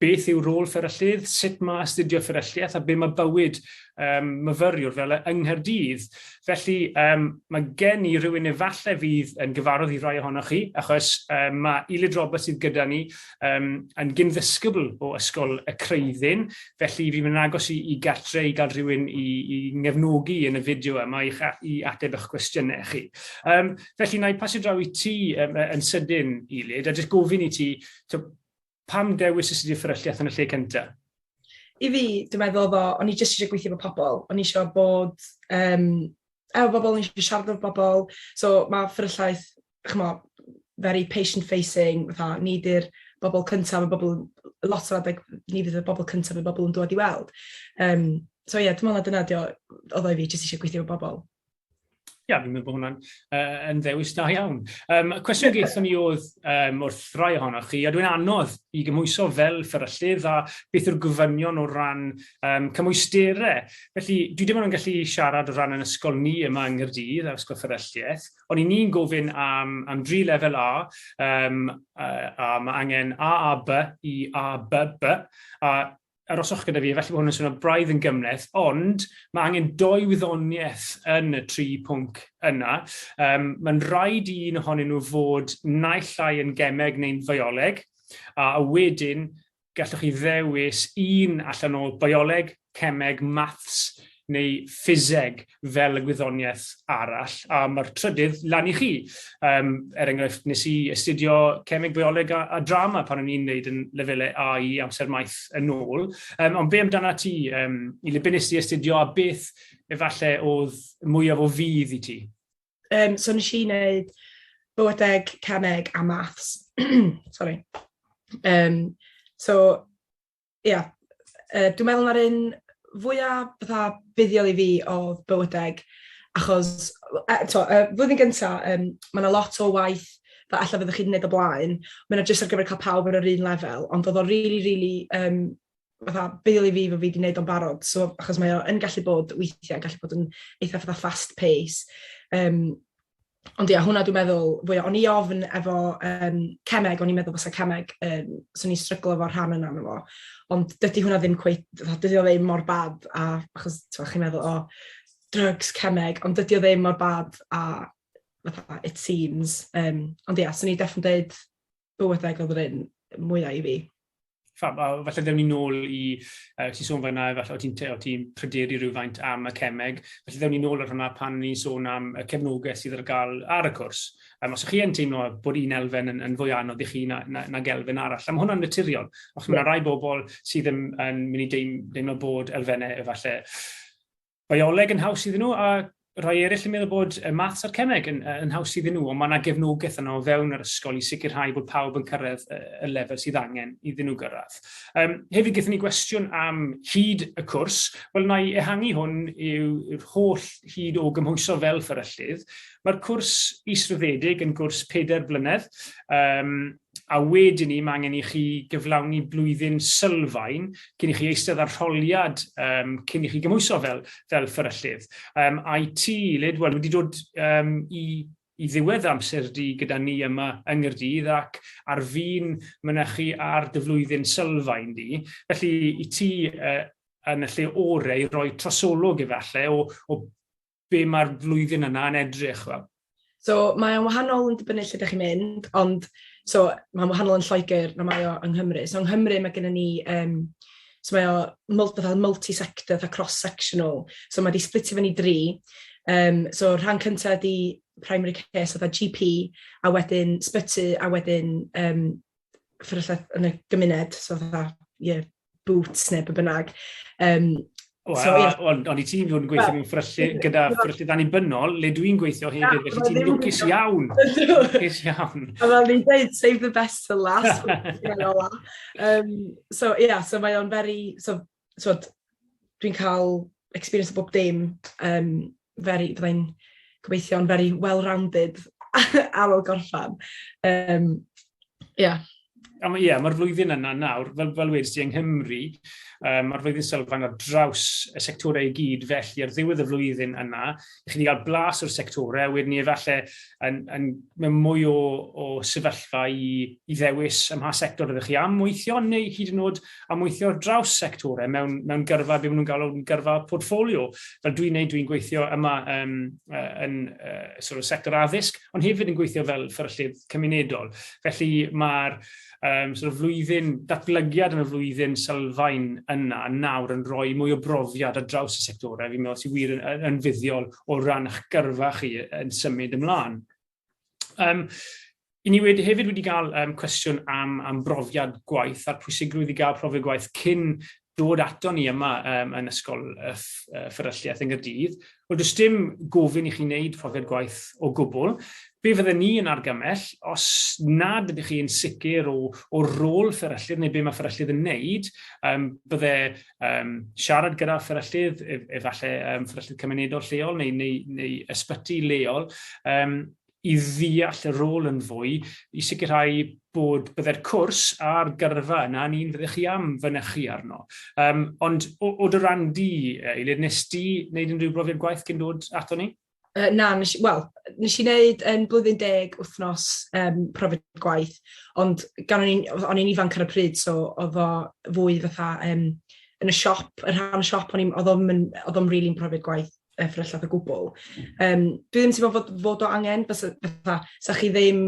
beth yw rôl fferyllydd, sut mae astudio fferylliaeth a be mae bywyd um, myfyriwr fel e yng Nghaerdydd. Felly um, mae gen i rhywun efallai fydd yn gyfarwydd i rai ohonoch chi, achos um, mae Elid Roberts sydd gyda ni um, yn gynddysgybl o Ysgol y Creuddyn, felly fi'n mynd agos i, i gartre i gael rhywun i, i ngefnogi yn y fideo yma i, i ateb eich cwestiynau chi. Um, felly, na i pasio draw i ti um, yn sydyn, Elid, a jyst gofyn i ti, Pam dewis y studio fferylliaeth yn y lle cynta? I fi, dwi'n meddwl oedd o, o'n i jyst eisiau gweithio efo pobl, o'n i eisiau bod um, efo bobl, o'n i eisiau siarad efo bobl, so mae fferylliaeth, chmo, very patient facing, fatha, ni di'r bobl cyntaf, mae bobl, lot o adeg, ni fydd y bobl cyntaf, mae bobl yn dod i weld. Um, so ie, yeah, dwi'n meddwl na dyna dio, oedd o i fi, jyst eisiau gweithio efo bobl. Ia, fi'n meddwl bod hwnna'n uh, yn ddewis da iawn. Um, cwestiwn geithon ni oedd um, wrth rai ohonoch chi, a dwi'n anodd i gymwyso fel fferyllydd a beth yw'r gofynion o ran um, cymwysterau. Felly, dwi ddim yn gallu siarad o ran yn ysgol ni yma yng Nghyrdydd ar ysgol fferylliaeth, ond i ni'n gofyn am, am dri lefel A, um, a, a mae angen A, A, B i A, B, B, a aroswch gyda fi, felly bod hwn yn swnio braidd yn gymleth, ond mae angen doi wyddoniaeth yn y tri pwnc yna. Um, Mae'n rhaid i un ohonyn nhw fod naill ai yn gemeg neu'n fioleg, a wedyn gallwch chi ddewis un allan o bioleg, cemeg, maths neu ffiseg fel y gwyddoniaeth arall, a mae'r trydydd lan i chi. Um, er enghraifft, nes i astudio cemeg, bioleg a, a drama pan o'n i'n neud yn lefelau A i amser maith yn ôl. Um, ond be amdana ti, um, i le bynnes ti astudio a beth efallai oedd mwyaf o fydd i ti? Um, so nes i wneud bywydeg, cemeg a maths. Sorry. Um, so ia, yy dwi'n meddwl ma'r un fwya fatha buddiol i fi odd bywydeg achos w- yy t'o' yy flwyddyn gynta yym ma' 'na lot o waith fel ella fyddwch chi 'di neud o blaen ma' 'na jyst ar gyfer ca'l pawb ar yr un lefel ond odd o rili rili yym fatha buddiol i fi bo' fi 'di neud o'n barod so achos mae o yn gallu bod weithie yn gallu bod yn eitha fatha fast pace yym Ond ia, hwnna dwi'n meddwl fwya. O'n i ofn efo um, cemeg, o'n i'n meddwl fysa cemeg, um, swn i'n stryglo efo'r rhan yna yna fo. Ond dydy hwnna ddim cweit, dydy o ddim mor bad, a achos chi'n meddwl, o, oh, drugs, cemeg, ond dydy o ddim mor bad a fatha, it seems. Um, ond ia, swn i'n definitely dweud bywydeg oedd yr un mwyaf i fi. Fab, a falle ddewn ni nôl i, uh, ti'n sôn fanna, falle o ti'n ti pryderu rhywfaint am y cemeg, felly ddewn ni nôl ar hwnna pan ni'n sôn am y cefnogaeth sydd ar gael ar y cwrs. Um, os ych chi yn teimlo bod un elfen yn, yn fwy anodd i chi na, na, na gelfen arall, a mae hwnna'n naturiol. Os mae yna rai bobl sydd yn, yn mynd i deimlo bod elfennau efallai bioleg yn haws iddyn nhw, a rhai eraill yn meddwl bod y maths a'r cemeg yn, yn haws iddyn nhw, ond mae yna gefnogaeth yno o fewn yr ysgol i sicrhau bod pawb yn cyrraedd y lefel sydd angen iddyn nhw gyrraedd. Um, hefyd, gyda ni gwestiwn am hyd y cwrs. Wel, yna i ehangu hwn yw'r holl hyd o gymhwyso fel fferyllydd. Mae'r cwrs israddedig yn gwrs 4 blynedd, um, a wedyn 'ny mae angen i chi gyflawni blwyddyn sylfaen cyn i chi eistedd ar rholiad um, cyn i chi gymhwyso fel, fel fferyllydd. Um, I ti, Lid, wel, wedi dod um, i i ddiwedd amser di gyda ni yma yng Nghyrdydd ac ar fin mynychu ar dy flwyddyn sylfaen di. Felly i ti uh, yn y lle orau i roi trosolwg efallai o, o be mae'r flwyddyn yna yn edrych fel? So, mae o'n wahanol yn dibynnu lle ydych chi'n mynd, ond so, mae'n wahanol yn Lloegr na mae o yng Nghymru. So, yng Nghymru mae gennym ni, um, so mae o multi-sector, fatha cross-sectional, so mae wedi splitio fyny dri. Um, so, rhan cyntaf ydy primary care, so fatha GP, a wedyn sbyty, a wedyn um, fferyllau yn y gymuned, so fatha, ie, yeah, boots neu be bynnag. Um, Wel, so, yeah. on, on i ti'n fod yn gweithio mewn ffryllu gyda ffryllu dan i'n bynnol, le dwi'n gweithio hefyd, felly ti'n lwcus iawn. Lwcus iawn. A fel ni'n dweud, save the best for last. um, so, yeah, so mae o'n very, so, so dwi'n cael experience o bob dim um, very, bydda i'n gobeithio'n very well-rounded ar ôl gorffan. Um, yeah. Ie, yeah, mae'r flwyddyn yna nawr, fel, fel wedi ti yng Nghymru, um, mae'r flwyddyn sylfaen ar draws y sectorau i gyd, felly ar ddiwedd y flwyddyn yna, i chi gael blas o'r sectorau, wedyn ni efallai yn, yn, mewn mwy o, o sefyllfa i, i ddewis ym mha sector ydych chi am weithio, neu hyd yn oed a mweithio ar draws sectorau mewn, mewn gyrfa, be maen nhw'n galw yn gyrfa portfolio. Fel dwi'n neud, dwi'n gweithio yma um, uh, yn uh, sort of sector addysg, ond hefyd yn gweithio fel fferyllydd cymunedol. Felly mae'r um, sort of flwyddyn, datblygiad yn y flwyddyn sylfaen yna nawr yn rhoi mwy o brofiad ar draws y sectorau. Fi'n meddwl sy'n wir yn, yn fuddiol o ran eich gyrfa chi yn symud ymlaen. Um, I ni wedi, hefyd wedi cael um, cwestiwn am, am brofiad gwaith a'r pwysigrwydd i gael profiad gwaith cyn dod ato ni yma um, yn ysgol y fferylliaeth yn Gyrdydd. Wel, does dim gofyn i chi wneud profiad gwaith o gwbl. Be fydde ni yn argymell, os nad ydych chi'n sicr o, o rôl fferyllydd neu be mae fferyllydd yn wneud, um, bydde um, siarad gyda fferyllydd, e, efallai um, fferyllydd cymunedol lleol neu, neu, neu ysbyty leol, um, i ddeall y rôl yn fwy, i sicrhau bod byddai'r cwrs a'r gyrfa yna yn un fyddech chi am fynychu arno. Um, ond o, o dy ran di, Eilir, nes di wneud unrhyw brofiad gwaith cyn dod ato ni? Uh, na, nes, well, nes i wneud yn blwyddyn deg wythnos um, profiad gwaith, ond gan o'n i'n, o'n i'n ifanc ar y pryd, so oedd o fwy fatha um, yn y siop, yn rhan y siop, oedd o'n oedd o'n rili'n profiad gwaith uh, ffrellad o gwbl. Um, dwi ddim yn teimlo fod, fod o angen, bys, fatha, sa chi ddim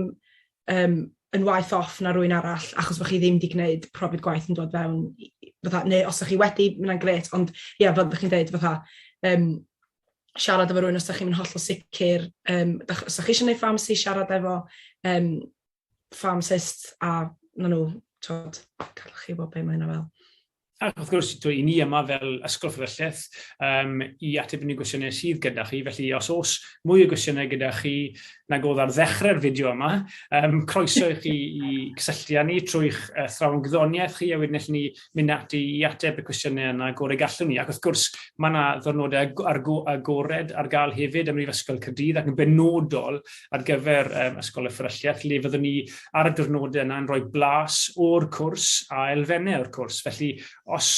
um, yn waith off na rwy'n arall, achos bod chi ddim wedi gwneud profiad gwaith yn dod fewn, fatha, neu os ydych chi wedi, mae'n gret, ond ie, yeah, fel ydych chi'n dweud, fatha, um, siarad efo rhywun os da chi'n mynd hollol sicr, um, os da chi eisiau gwneud ffamsi, siarad efo um, ffamsist a na nhw, tod, gallwch chi wybod beth mae hynna fel. Ac wrth gwrs, dwi, i ni yma fel Ysgol Fferylleth um, i ateb unrhyw gwestiynau sydd gyda chi. Felly, os oes mwy o gwestiynau gyda chi na godd ar ddechrau'r fideo yma, um, croeso i chi i cysylltu â ni trwy'ch uh, thrawn gydoniaeth chi, a wedyn allwn ni mynd ati i ateb y cwestiynau yna y gorau gallwn ni. Ac wrth gwrs, mae yna ddyrnodau agored ar gael hefyd ym Mhrifysgol Caerdydd ac yn benodol ar gyfer um, Ysgol y Fferylliaeth, lle fyddwn ni ar y dyrnodau yna yn rhoi blas o'r cwrs a elfennau o'r cwrs. Felly, os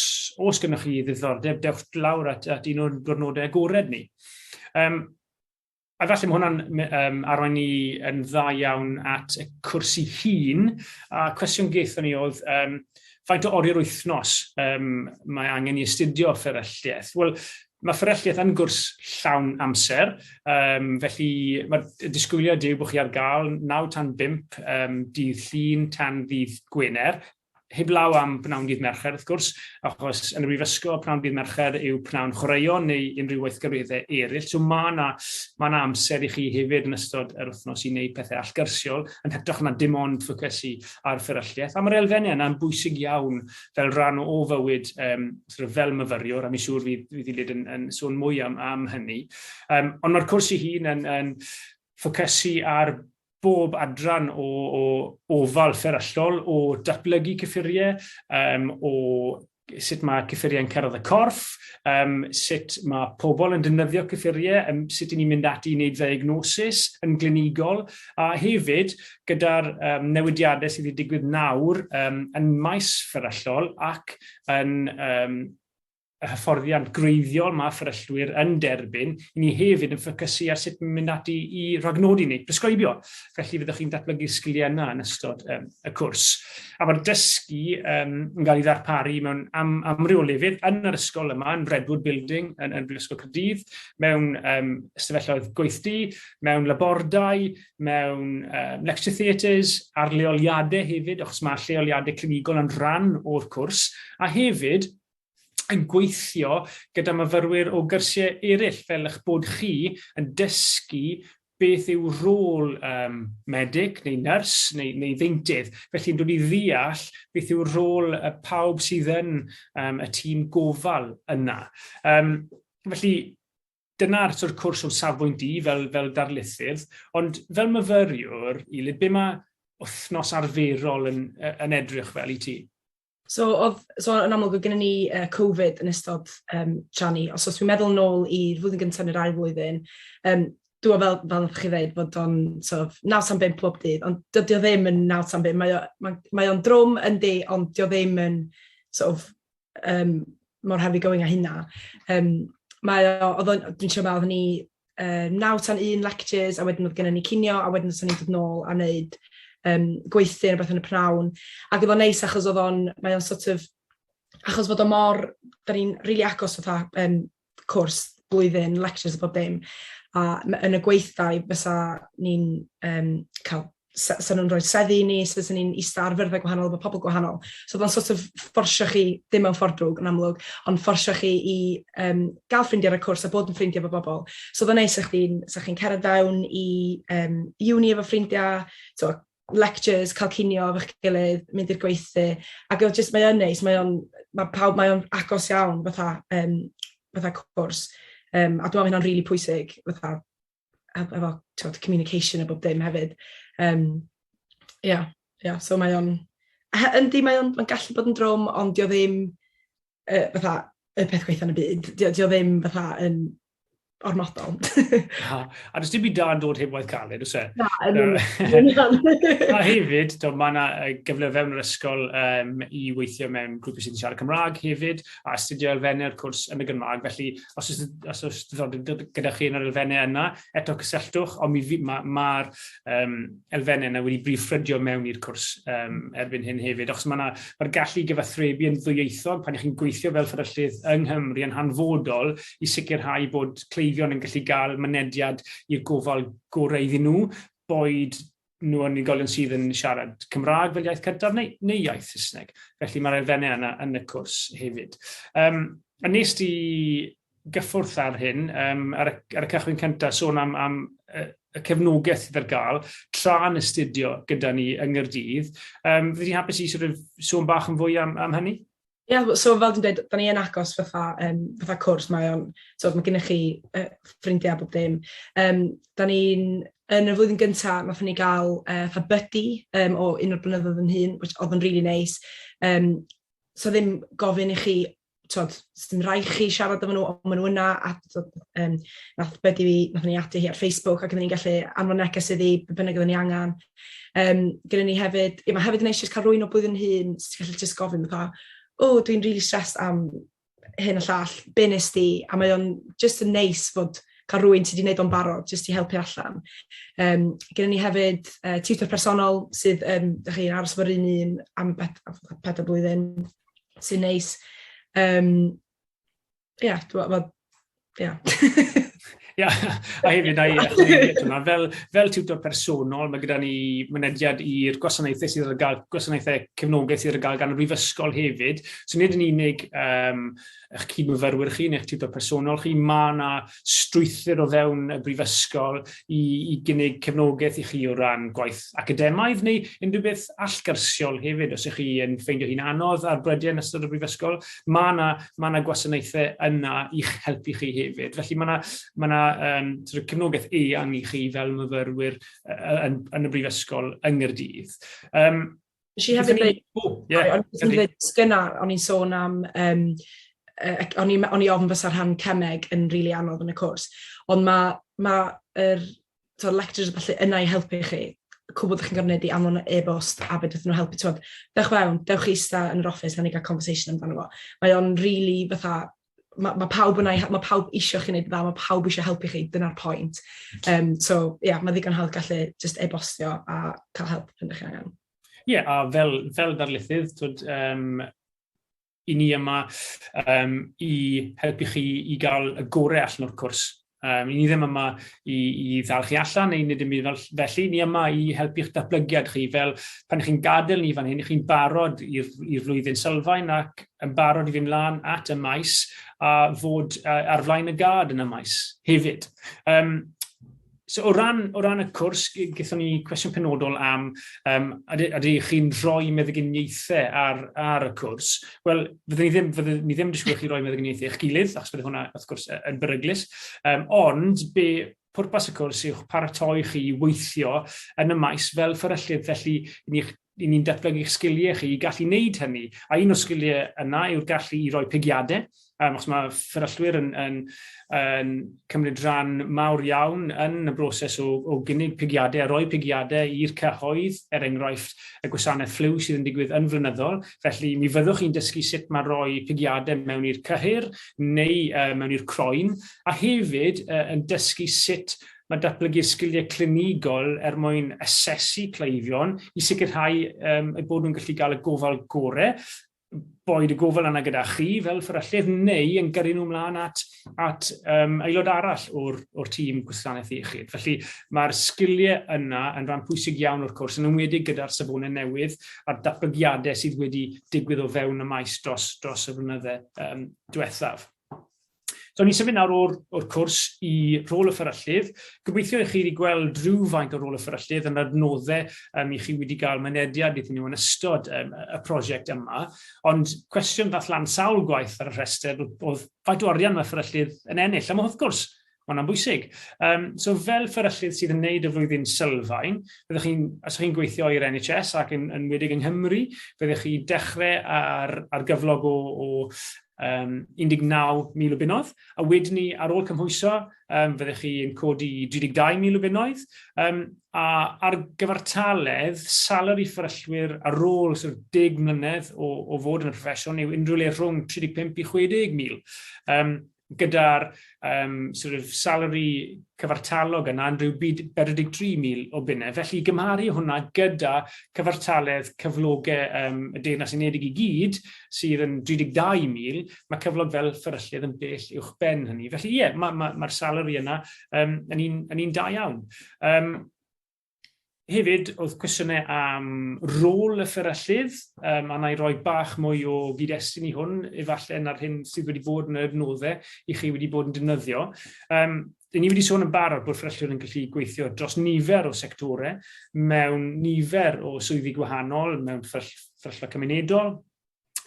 os gennych chi ddiddordeb, dewch lawr at, at un o'r dyrnodau agored ni. Um, A falle mae hwnna'n um, arwain ni yn dda iawn at y cwrs i hun. A cwestiwn gaethon ni oedd, um, faint o ori'r wythnos um, mae angen i astudio fferylliaeth? Wel, mae fferylliaeth yn gwrs llawn amser, um, felly mae disgwyliad yw bod chi ar gael 9 tan 5 um, dydd llun tan ddydd Gwener, Heblaw am bnawn dydd Mercher, wrth gwrs, achos yn y Brifysgol, pnawn dydd Mercher yw pnawn chwaraeon neu unrhyw weithgareddau eraill. So mae yna ma yna amser i chi hefyd yn ystod yr wythnos i wneud pethau allgyrsiol, yn hytrach na dim ond ffocysu ar fferylliaeth. A mae'r elfennau yna'n bwysig iawn fel rhan o fywyd um, sort of fel myfyriwr, a mi siŵr fydd, fydd Ilid yn, yn sôn mwy am, am hynny. Um, ond mae'r cwrs i hun yn, yn ffocysu ar bob adran o, o ofal fferyllol, o datblygu cyffuriau, um, o sut mae cyffuriau'n cyrraedd y corff, um, sut mae pobl yn defnyddio cyffuriau, um, sut i ni'n mynd ati i wneud ddiagnosis yn glinigol, a hefyd gyda'r um, newidiadau sydd wedi digwydd nawr um, yn maes fferyllol ac yn um, y hyfforddiant gwreiddiol mae fferyllwyr yn derbyn, i ni hefyd yn ffocysu ar sut mynd ati i ragnodi neu bresgribio. Felly fyddwch chi'n datblygu'r sgiliau yna yn ystod um, y cwrs. A mae'r dysgu um, yn cael ei ddarparu mewn am, amryw o lefydd yn yr ysgol yma, yn Redwood Building, yn, yn Brifysgol Cyrdydd, mewn um, ystafelloedd gweithdy, mewn labordai, mewn um, lecture theatres, ar leoliadau hefyd, achos mae lleoliadau clinigol yn rhan o'r cwrs, a hefyd yn gweithio gyda myfyrwyr o gyrsiau eraill fel eich bod chi yn dysgu beth yw rôl um, medyg neu nyrs neu, neu ddeintydd. Felly yn dod i ddeall beth yw rôl y pawb sydd yn um, y tîm gofal yna. Um, felly dyna'r sort of cwrs o'n safbwynt i fel, fel darlithydd, ond fel myfyriwr, Ilid, be mae wythnos arferol yn, yn edrych fel i ti? So oedd, so yn amlwg oedd gennym ni uh, Covid yn ystod um, tra ni, os oes fi'n meddwl yn ôl i'r flwyddyn gyntaf neu'r ail flwyddyn, um, dwi fel, fel ydych chi ddeud, bod o'n sort of, naw tan bimp pob dydd, ond dydy o ddim yn naw tan bimp, mae o'n mae, mae drwm yn di, ond dydy o ddim yn sort of, um, mor heavy going a hynna. Um, mae o, oedd o'n, dwi'n siarad oedd ni uh, 9 tan 1 lectures, a wedyn oedd gennym ni cinio, a wedyn oedd ni'n dod nôl a wneud um, gweithio rhywbeth yn y prawn. Ac oedd o'n neis achos oedd o'n, mae o'n sort of, achos fod o mor, da ni'n rili really agos fatha um, cwrs blwyddyn, lectures a bob dim. A yn y gweithdai fysa ni'n um, cael sa, sa nhw'n rhoi seddi i ni, so fyswn ni'n eista ar fyrddau gwahanol efo pobl gwahanol. So oedd o'n sort of fforsio chi, dim mewn ffordd drwg yn amlwg, ond fforsio chi i um, gael ffrindiau ar y cwrs a bod yn ffrindiau efo bobl. So oedd o'n neis, sa chi'n chi, chi cerdded fewn i um, uni efo ffrindiau, so, lectures, cael cinio efo'ch gilydd, mynd i'r gweithdy, ac oedd jyst, mae o'n neis, mae o'n, mae pawb, mae o'n agos iawn fatha, um, fatha cwrs, um, a dwi'n meddwl hynna'n rili really pwysig, fatha, efo t'od communication a bob dim hefyd yym ia ia so mae o'n he- yndi mae o'n ma'n gallu bod yn drwm ond 'di o ddim yy fatha y peth gwaetha' yn y byd. 'Di o 'di o ddim fatha yn ormodol. Na, a does dim byd da yn dod heb waith caled, oes e? Na, yn union. A hefyd, mae yna gyfle fewn yr ysgol um, i weithio mewn grwpau sydd yn siarad Cymraeg hefyd, a astudio elfennau o'r cwrs yn y Gymraeg, felly os oes, os oes diddordeb gyda chi yn yr elfennau yna, eto cysylltwch, ond mae'r ma, ma um, elfennau yna wedi brif ffrydio mewn i'r cwrs um, erbyn hyn hefyd, achos mae'r ma gallu gyfathrebu yn ddwyieithog pan ych chi'n gweithio fel fferyllydd yng Nghymru yn hanfodol i sicrhau bod cleifion yn gallu cael mynediad i'r gofal gorau iddyn nhw, boed nhw yn unigolion sydd yn siarad Cymraeg fel iaith cyntaf neu, neu iaith Saesneg. Felly mae'r elfennau yna yn y cwrs hefyd. Um, a nes di gyffwrdd ar hyn, um, ar, y, ar y cychwyn cyntaf, sôn am, am y, y cefnogaeth sydd ar gael tra yn astudio gyda ni yng Nghyrdydd. Um, Fyddai'n hapus i sort of, sôn bach yn fwy am, am hynny? Ie, so fel dwi'n dweud, da ni yn agos fatha, um, fatha cwrs, mae o'n, so mae gennych chi uh, ffrindiau a bob dim. Um, da ni'n, yn y flwyddyn gyntaf, nath ni gael uh, fatha buddy um, o un o'r blynyddoedd yn hun, which oedd yn really nice. Um, so ddim gofyn i chi, tod, sy'n rhai chi siarad efo nhw, ond maen nhw yna, a tod, um, nath buddy fi, nath ni ati hi ar Facebook, ac oedden ni'n gallu anfon neges iddi, bynnag oedden ni angen. Um, gyda ni hefyd, ie, mae hefyd yn eisiau cael rwy'n o blwyddyn hun, so ti'n gallu just gofyn fatha, o, oh, dwi'n really stressed am hyn a llall, be nes di, a mae o'n just yn neis fod cael rwy'n ti wedi gwneud o'n barod, jyst i helpu allan. Um, gyda ni hefyd uh, tutor personol sydd, um, da chi'n aros fo'r un un am peth o blwyddyn, sy'n neis. Um, Ie, yeah, dwi'n meddwl, ie. Ia, a hefyd, na i yna, fel, fel tutor personol, mae gyda ni mynediad i'r gwasanaethau sydd ar gael, gwasanaethau cefnogaeth sydd ar gael gan y brifysgol hefyd. So nid yn unig um, eich cyd-myfyrwyr chi neu'ch tutor personol chi, mae yna strwythur o fewn y brifysgol i, i gynnig cefnogaeth i chi o ran gwaith academaidd neu unrhyw beth allgyrsiol hefyd os ych chi yn ffeindio hi'n anodd ar brydiau yn ystod y brifysgol. Mae yna, mae yna gwasanaethau yna i'ch helpu chi hefyd. Felly mae yna, mae yna um, sort of cefnogaeth eang i chi fel myfyrwyr uh, yn, yn y brifysgol yng Ngyrdydd. Um, Nes i hefyd dweud... O, ie. O'n i'n dweud gyna, o'n i'n sôn am, um, uh, o'n i'n o'n i ofn fysa rhan cemeg yn rili really anodd yn y cwrs, ond mae ma yr so, lectures a falle yna i helpu chi, cwbl ydych chi'n gorfod gwneud i anfon e-bost a fe dydyn nhw helpu, tywed, dewch fewn, dewch i ista yn yr office, na ni gael conversation amdano fo. Mae o'n rili really, fatha, mae ma pawb yna, mae pawb eisiau chi wneud dda, mae pawb eisiau helpu chi, dyna'r pwynt. Um, so, ie, yeah, mae ddigon hawdd gallu just e-bostio a cael help pan ydych chi'n angen. Ie, yeah, a fel, fel darlithydd, twyd, um, i ni yma um, i helpu chi i gael y gorau allan o'r cwrs. Um, ni ddim yma i, i ddal chi allan neu nid ymwneud fel, felly, ni yma i helpu'ch datblygiad chi. Fel pan chi'n gadael ni fan hyn, chi'n barod i'r flwyddyn sylfaen ac yn barod i fynd lan at y maes a fod uh, ar flaen y gad yn y maes hefyd. Um, So o ran, o ran y cwrs, gyda ni cwestiwn penodol am um, ydych chi'n rhoi meddyginiaethau ar, ar y cwrs. Wel, fyddwn ni ddim, fyddwn ni ddim yn disgwyl chi roi meddyginiaethau eich gilydd, achos bydd hwnna, wrth gwrs, yn beryglus. Um, ond, be pwrpas y cwrs yw'ch paratoi chi i weithio yn y maes fel fferyllydd, felly ni'n i ni'n datblygu'ch sgiliau chi i gallu wneud hynny. A un o'r sgiliau yna yw'r gallu i roi pigiadau, um, achos mae fferyllwyr yn, yn, yn cymryd rhan mawr iawn yn y broses o, o gynnig pigiadau a roi pigiadau i'r cyhoedd, er enghraifft y gwasanaeth fflyw sydd yn digwydd yn flynyddol, Felly, mi fyddwch chi'n dysgu sut mae rhoi pigiadau mewn i'r cyhyr neu uh, mewn i'r croen, a hefyd uh, yn dysgu sut mae datblygu'r sgiliau clinigol er mwyn asesu cleifion i sicrhau um, eu bod nhw'n gallu cael y gofal gorau boed y gofal yna gyda chi fel fferyllydd neu yn gyrru nhw ymlaen at at um, aelod arall o'r, or tîm gwasanaeth iechyd. Felly mae'r sgiliau yna yn rhan pwysig iawn o'r cwrs, yn ymwedig gyda'r safonau newydd a'r datblygiadau sydd wedi digwydd o fewn y maes dros, dros y flynydde um, diwethaf. So, ni'n symud nawr o'r, or cwrs i rôl y fferyllydd. Gobeithio i chi wedi gweld rhywfaint o rôl y fferyllydd yn adnoddau um, i chi wedi cael mynediad iddyn nhw yn ystod um, y prosiect yma. Ond cwestiwn ddath lan sawl gwaith ar y rhestr oedd faint o arian mae fferyllydd yn ennill. A mae wrth gwrs, mae hwnna'n bwysig. Um, so fel fferyllydd sydd yn wneud y flwyddyn sylfaen, byddwch chi'n, os ydych chi'n gweithio i'r NHS ac yn, yn wedig yng Nghymru, byddwch chi dechrau ar, ar gyflog o, o um, 19,000 o bunodd, a wedyn ni, ar ôl cymhwyso, um, fyddech chi yn codi 32,000 o bunnoedd, um, a ar gyfartaledd salary fferyllwyr ar ôl sort of 10 mlynedd o, o fod yn y proffesiwn yw unrhyw le rhwng 35 i 60,000. Um, gyda'r um, sort of salary cyfartalog yna yn rhyw 43,000 o bunnau. Felly gymharu hwnna gyda cyfartaledd cyflogau um, y Deyrnas Unedig i gyd, sydd yn 32,000, mae cyflog fel fferyllydd yn bell uwch ben hynny. Felly ie, mae'r ma, ma, salary yna um, yn un, yn un da iawn. Um, hefyd, oedd cwestiynau am rôl y fferyllydd, um, a na i roi bach mwy o gyd-destun i hwn, efallai na'r hyn sydd wedi bod yn yr nodde i chi wedi bod yn defnyddio. Um, Dyn ni wedi sôn yn barod bod fferyllion yn gallu gweithio dros nifer o sectorau mewn nifer o swyddi gwahanol, mewn fferyllfa cymunedol,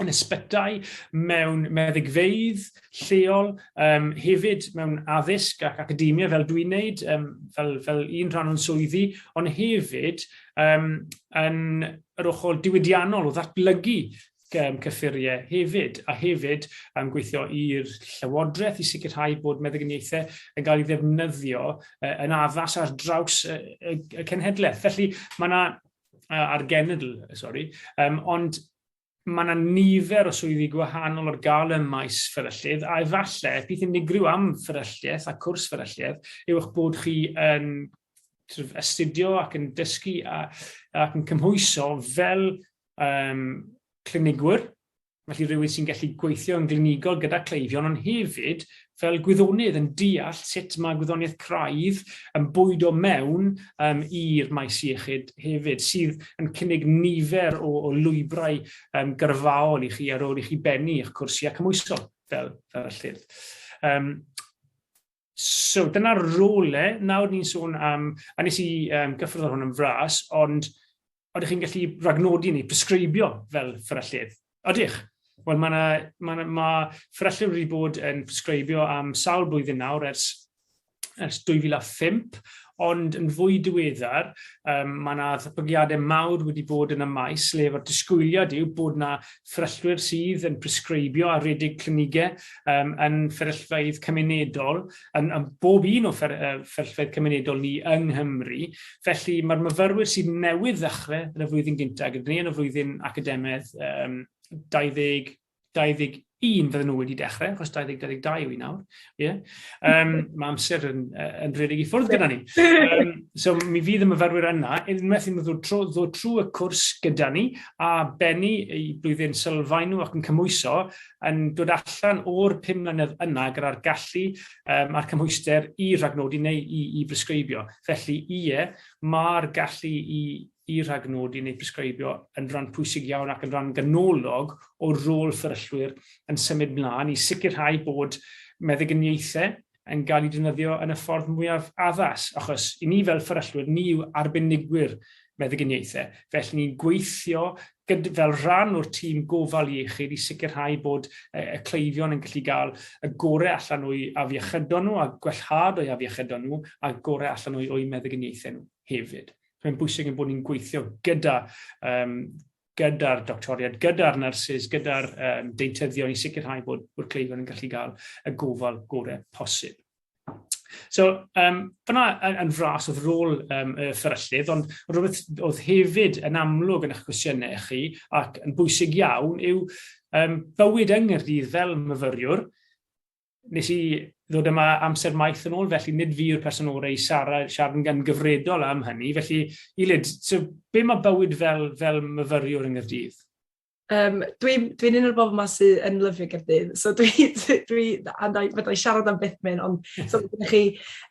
yn ysbytai, mewn meddygfeydd lleol, um, hefyd mewn addysg ac academia fel dwi'n neud, um, fel, fel un rhan o'n swyddi, ond hefyd um, yn yr ochr diwydiannol o ddatblygu um, cyffuriau hefyd, a hefyd um, gweithio i'r llywodraeth i sicrhau bod meddyginiaethau yn cael ei ddefnyddio uh, yn addas ar draws y, y, y cenhedlaeth. Felly mae yna a'r genedl, sori, um, ond mae yna nifer o swyddi gwahanol ar gael ym maes fferyllydd, a efallai peth unigryw am fferylliaeth a cwrs fferylliaeth yw eich bod chi yn trwyf astudio ac yn dysgu a, ac yn cymhwyso fel um, clinigwr Felly rhywun sy'n gallu gweithio yn glinigol gyda cleifion ond hefyd fel gwyddonydd yn deall sut mae gwyddoniaeth craidd yn bwydo mewn um, i'r maes iechyd hefyd, sydd yn cynnig nifer o, o lwybrau um, gyrfaol i chi ar ôl i chi bennu eich cwrsiau cymwysol fel, fel y llyfr. Um, So, dyna role, nawr ni'n sôn am, a nes i um, gyffwrdd ar hwn yn fras, ond oeddech chi'n gallu ragnodi ni, presgribio fel fferyllydd? Odych? Wel, mae ma, ma, ma fferyllydd wedi bod yn presgribio am sawl blwyddyn nawr ers, ers 2005, ond yn fwy diweddar, um, mae yna ddatblygiadau mawr wedi bod yn y maes lle fod disgwyliad yw bod yna fferyllwyr sydd yn presgribio a redig clinigau um, yn fferyllfeydd cymunedol, yn, yn bob un o fer, uh, fferyllfeydd cymunedol ni yng Nghymru. Felly mae'r myfyrwyr sydd newydd ddechrau yn y flwyddyn gyntaf gyda ni yn y flwyddyn academaidd um, 20 21 fydden nhw wedi dechrau, achos 2022 yw i nawr. Yeah. Um, mae amser yn, yn rhedeg i ffwrdd gyda ni. Um, so mi fydd y myfyrwyr yna, unwaith i ddod trwy, ddod trwy y cwrs gyda ni, a bennu i blwyddyn sylfaen nhw ac yn cymwyso, yn dod allan o'r pum mlynedd yna gyda'r gallu um, a'r cymhwyster i rhagnodi neu i, i bresgribio. Felly, ie, mae'r gallu i i ragnodi neu presgribio yn ran pwysig iawn ac yn ran ganolog o rôl fferyllwyr yn symud mlaen i sicrhau bod meddyginiaethau yn cael eu defnyddio yn y ffordd mwyaf addas, achos i ni fel fferyllwyr, ni yw arbenigwyr meddyginiaethau, felly ni'n gweithio gyd- fel rhan o'r tîm gofal iechyd i sicrhau bod y, y cleifion yn gallu gael y gorau allan o'u afiechydon nhw a gwellhad o'u afiechydon nhw a gorau allan o'u, o'u meddyginiaethau nhw hefyd. mae'n bwysig yn bod ni'n gweithio gyda um, gyda'r doctoriad, gyda'r nyrsys, gyda'r um, deintyddion i sicrhau bod, bod cleifion yn gallu cael y gofal gorau posib. So, um, fyna yn, yn fras oedd rôl um, y fferyllydd, ond rhywbeth oedd hefyd yn amlwg yn eich cwestiynau chi ac yn bwysig iawn yw um, bywyd yng Nghyrdydd fel myfyriwr, nes i ddod yma amser maith yn ôl, felly nid fi yw'r person orau i siarad, siarad yn gyfredol am hynny. Felly, i lyd, so, be mae bywyd fel, fel myfyriwr yng Nghyrdydd? Um, Dwi'n dwi, un o'r bobl yma sydd yn lyfio Gyrdydd, so dwi, dwi, dwi fydda i siarad am beth mynd, ond so, ydych chi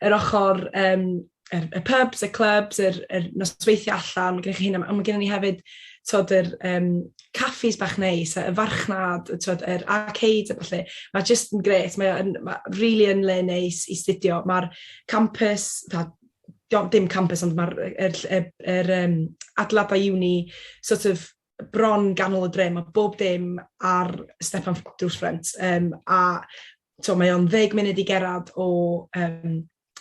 yr ochr um, yr, y pubs, y clubs, yr, yr nosweithiau allan, mae gennych chi hyn, ond mae gennym ni hefyd tod, yr um, caffis bach neis, y farchnad, tod, yr arcades a falle. Mae jyst yn gret, mae'n ma really yn le neis i studio. Mae'r campus, ta, dim campus, ond mae'r er, er, er, um, adladau uni sort of bron ganol y dre, mae bob dim ar Stefan Drws Ffrent. Um, a to, mae o'n ddeg munud i gerad o um,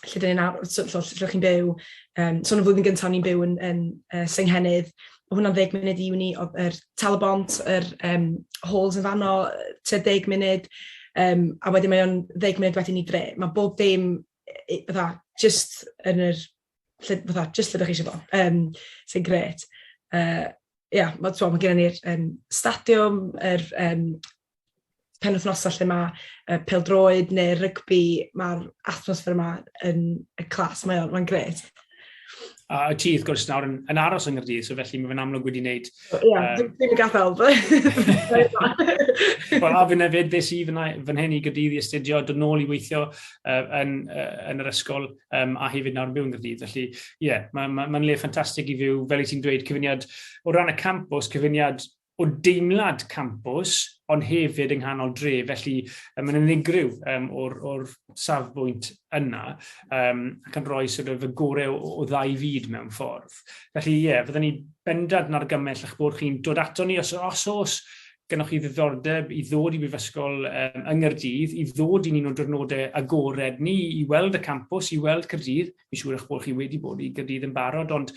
lle dyn ni'n ar- so- so- lle chi'n byw, yym, so yn y flwyddyn gyntaf o'n i'n byw yn yn yy Senghennydd, o' hwnna'n ddeg munud i uni o'dd yr Tal-y-bont yr yym Halls yn fanno yy tua deg munud yym a wedyn mae o'n ddeg munud wedyn i dre. Ma' bob dim yy i- fatha jyst yn yr lle fatha jyst lle 'dach chi isio fo yym sy'n grêt. Yy ia ma' t'mo' ma' gennon ni'r yym stadiwm yr yym penwythnosau lle mae uh, peldroed neu rygbi, mae'r atmosffer yma yn y clas, mae'n mae gret. A uh, ti, wrth gwrs, nawr yn, yn aros yng Nghyrdydd, so felly mae fe'n amlwg wedi wneud... Ie, yeah, um, ddim yn gadael. Wel, a fi'n efyd, beth sydd fy hyn i Gyrdydd i astudio, dod nôl i weithio uh, yn, uh, yn yr ysgol um, a hefyd nawr yn byw yn Gyrdydd. Felly, ie, yeah, mae'n ma, ma, ma le ffantastig i fyw, fel i ti'n dweud, cyfyniad o ran y campus, cyfyniad o deimlad campws, ond hefyd yng nghanol dre, felly um, mae'n unigryw um, o'r, or safbwynt yna, um, ac yn rhoi sort of, y gorau o, o ddau fyd mewn ffordd. Felly, ie, yeah, fyddwn ni bendant yn argymell eich bod chi'n dod ato ni os, os os gennych chi ddiddordeb i ddod i Brifysgol um, yng Ngyrdydd, i ddod i'n un o diwrnodau agored ni, i weld y campws, i weld Cyrdydd. Mi'n siŵr eich bod chi wedi bod i Gyrdydd yn barod, ond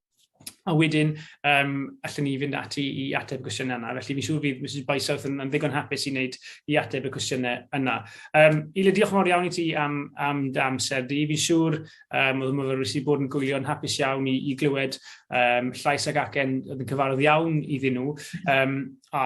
A wedyn, um, allan ni fynd ati i ateb y cwestiynau yna. Felly, fi siŵr fydd Mrs Bysouth yn, yn ddigon hapus i wneud i ateb y cwestiynau yna. Um, Ile, diolch yn fawr iawn i ti am, am dy amser di. Fi siŵr um, oedd y myfyrwyr sydd bod yn gwylio'n hapus iawn i, i glywed um, llais ag acen oedd yn cyfarwydd iawn iddyn nhw. Um, a